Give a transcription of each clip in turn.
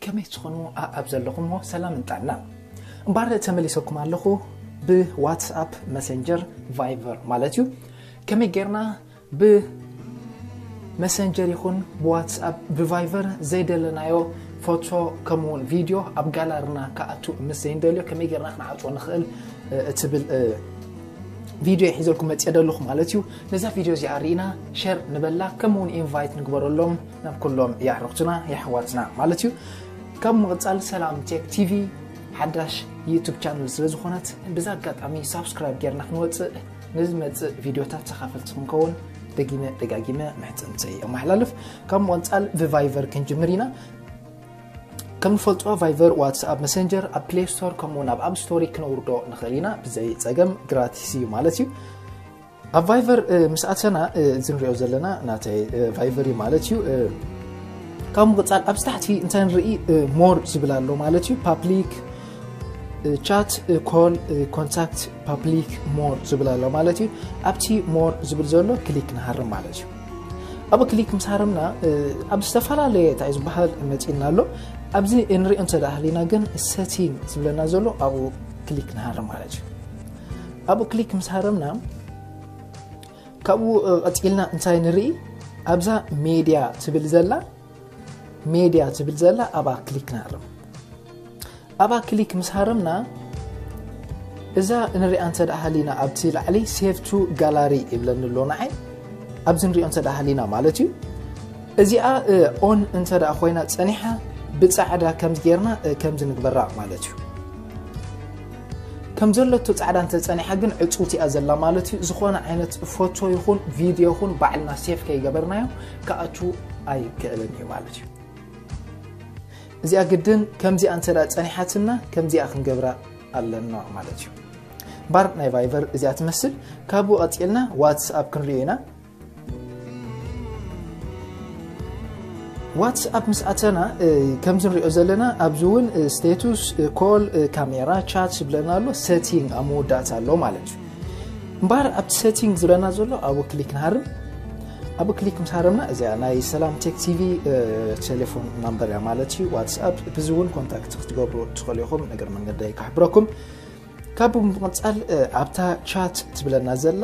ከመይ ትኾኑ ኣብ ዘለኹሞ ሰላም እንጣና እምባር ተመሊሰኩም ኣለኹ ብዋትስኣፕ መሰንጀር ቫይቨር ማለት እዩ ከመይ ጌርና ብ መሰንጀር ይኹን ብዋትስኣፕ ብቫይቨር ዘይደለናዮ ፎቶ ከምኡ ውን ቪድዮ ኣብ ጋላርና ክኣቱ ምስ ዘይንደልዮ ከመይ ጌርና ክንዓጽዎ ንኽእል እትብል ቪድዮ እየ ሒዘልኩም መጽየ ደለኹ ማለት እዩ ነዛ ቪድዮ እዚኣ ርኢና ሸር ንበላ ከምኡ ውን ኢንቫይት ንግበረሎም ናብ ኩሎም የዕርኽትና የሕዋትና ማለት እዩ ካብ ምቕጻል ሰላም ቴክ ቲቪ ሓዳሽ ዩቱብ ቻነል ስለ ዝኾነት ብዛ ኣጋጣሚ ሳብስክራይብ ጌርና ክንወፅእ ንዝመጽእ ቪድዮታት ተኻፈልቲ ክንከውን ደጊመ ደጋጊመ ምሕጽንተይ ኣመሓላልፍ ካብ ምቕጻል ብቫይቨር ክንጅምር ኢና ከም ንፈልጦ ቫይቨር ዋትስኣፕ መሰንጀር ኣብ ፕሌይ ስቶር ከምኡውን ኣብ ኣብ ስቶሪ ክነውርዶ ንኽእል ኢና ብዘይ ፀገም ግራቲስ እዩ ማለት እዩ ኣብ ቫይቨር ምስ ኣተና እዚ ንሪኦ ዘለና ናተይ ቫይቨር እዩ ማለት እዩ ካብ ምቕፃል ኣብ ታሕቲ እንታይ ንርኢ ሞር ዝብል ኣሎ ማለት እዩ ፓብሊክ ቻት ኮል ኮንታክት ፓብሊክ ሞር ዝብል ኣሎ ማለት እዩ ኣብቲ ሞር ዝብል ዘሎ ክሊክ ንሃርም ማለት እዩ ኣብ ክሊክ ምስ ሃረምና ኣብ ዝተፈላለየ እንታይ እዩ ዝበሃል መፂና ኣሎ ኣብዚ እንሪኦ እንተዳሃሊና ግን ሰቲን ዝብለና ዘሎ ኣብኡ ክሊክ ንሃርም ማለት እዩ ኣብኡ ክሊክ ምስ ሃረምና ካብኡ ቀፂልና እንታይ ንርኢ ኣብዛ ሜድያ ትብል ዘላ ሜድያ ትብል ዘላ ኣብኣ ክሊክ ንሃርም ኣብኣ ክሊክ ምስ ሃረምና እዛ ንሪኣ እንተ ሃሊና ኣብቲ ላዕሊ ሴቭ ቱ ጋላሪ ይብለኒ ኣሎ ንዓይ ኣብዚ ንሪኦ እንተ ሃሊና ማለት እዩ እዚኣ ኦን እንተ ኮይና ፀኒሓ ብፃዕዳ ከምዚ ጌርና ከምዚ ንግበራ ማለት እዩ ከም ዘለቶ ፃዕዳ እንተ ፀኒሓ ግን ዕፁውቲ እያ ዘላ ማለት እዩ ዝኾነ ዓይነት ፎቶ ይኹን ቪድዮ ይኹን ባዕልና ሴፍ ከይገበርናዮ ክኣቱ ኣይክእልን እዩ ማለት እዩ እዚኣ ግድን ከምዚኣ እንተ ፀኒሓትና ከምዚኣ ክንገብራ ኣለና ማለት እዩ ባር ናይ ቫይቨር እዚኣ ትመስል ካብኡ ቀፂልና ዋትስኣፕ ክንሪኦ ኢና ዋትስኣፕ ምስ ኣተና ከምዚ ንሪኦ ዘለና ኣብዚ እውን ስቴቱስ ኮል ካሜራ ቻት ዝብለና ኣሎ ሰቲንግ ኣብ መወዳእታ ኣሎ ማለት እዩ እምበኣር ኣብቲ ሰቲንግ ዝብለና ዘሎ ኣብኡ ክሊክ ንሃርም ኣብ ክሊክ ምስ ሃረምና እዚኣ ናይ ሰላም ቴክ ቲቪ ቴሌፎን ናምበር እያ ማለት እዩ ዋትስኣፕ ብዚ እውን ኮንታክት ክትገብሩ ትኽእሉ ኢኹም ነገር መንገደይ ክሕብረኩም ካብ ብምቕፃል ኣብታ ቻት ትብለና ዘላ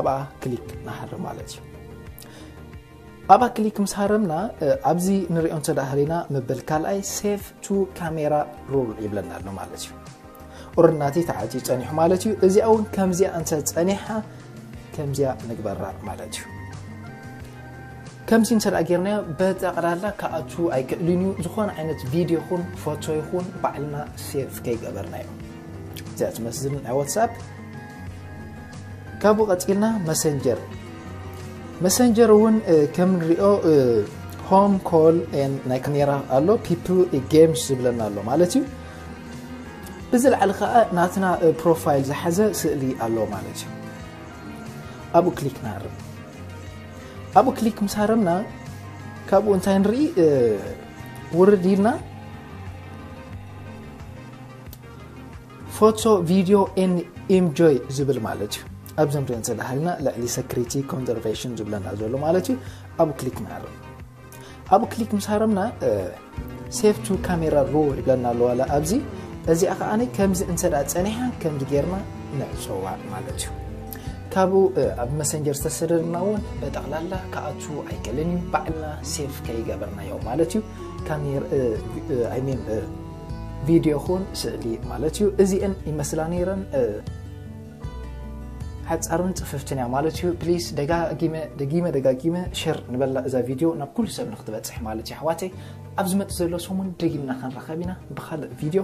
ኣብኣ ክሊክ ንሃር ማለት እዩ ኣብኣ ክሊክ ምስ ሃረምና ኣብዚ ንሪኦ እንተደሃሪና መበል ካልኣይ ሴቭ ቱ ካሜራ ሩል ይብለና ኣሎ ማለት እዩ ኦረናተይ ተዓፅዩ ፀኒሑ ማለት እዩ እዚኣ እውን ከምዚኣ እንተ ፀኒሓ ከምዚኣ ንግበራ ማለት እዩ ከምዚ እንተ ጌርናዮ በጠቕላላ ክኣቱ ኣይክእልን እዩ ዝኾነ ዓይነት ቪድዮ ይኹን ፎቶ ይኹን ባዕልና ሴቭ ከይገበርናዮ እዚኣ ትመስል ናይ ዋትስኣፕ ካብኡ ቀፂልና መሰንጀር መሰንጀር እውን ከም ንሪኦ ሆም ኮል ናይ ካሜራ ኣሎ ፒፕል ጌምስ ዝብለና ኣሎ ማለት እዩ ብዝለዓል ከኣ ናትና ፕሮፋይል ዝሓዘ ስእሊ ኣሎ ማለት እዩ ኣብኡ ክሊክ ንሃርም ኣብኡ ክሊክ ምስ ሃረምና ካብኡ እንታይ ንርኢ ውርድ ኢልና ፎቶ ቪድዮ ን ኢምጆይ ዝብል ማለት እዩ ኣብዚ ንሪኦ ዘለና ልዕሊ ሰክሪቲ ኮንዘርቫሽን ዝብለና ዘሎ ማለት እዩ ኣብኡ ክሊክ ንሃርም ኣብኡ ክሊክ ምስ ሃረምና ሴቭ ቱ ካሜራ ሮል ይብለና ኣለዋ ኣብዚ እዚኣ ከዓ ከምዚ እንተ ፀኒሓ ከምዚ ጌርና ንዕፀዋ ማለት እዩ ካብኡ ኣብ መሰንጀር ዝተሰደድና እውን ጠቕላላ ክኣቱ ኣይክእልን እዩ ባዕልና ሴፍ ከይገበርናዮ ማለት እዩ ካሜራይሜን ቪድዮ ኹን ስእሊ ማለት እዩ እዚአን ይመስላ ነይረን ሓጻርን ጽፍፍትን እያ ማለት እዩ ፕሊስ ደጋጊመ ደጊመ ደጋጊመ ሸር ንበላ እዛ ቪድዮ ናብ ኩሉ ሰብ ንክትበጽሕ ማለት እዩ ኣሕዋተይ ኣብ ዝመጽእ ዘሎ ሰሙን ደጊምና ክንራኸብ ኢና ብካልእ ቪድዮ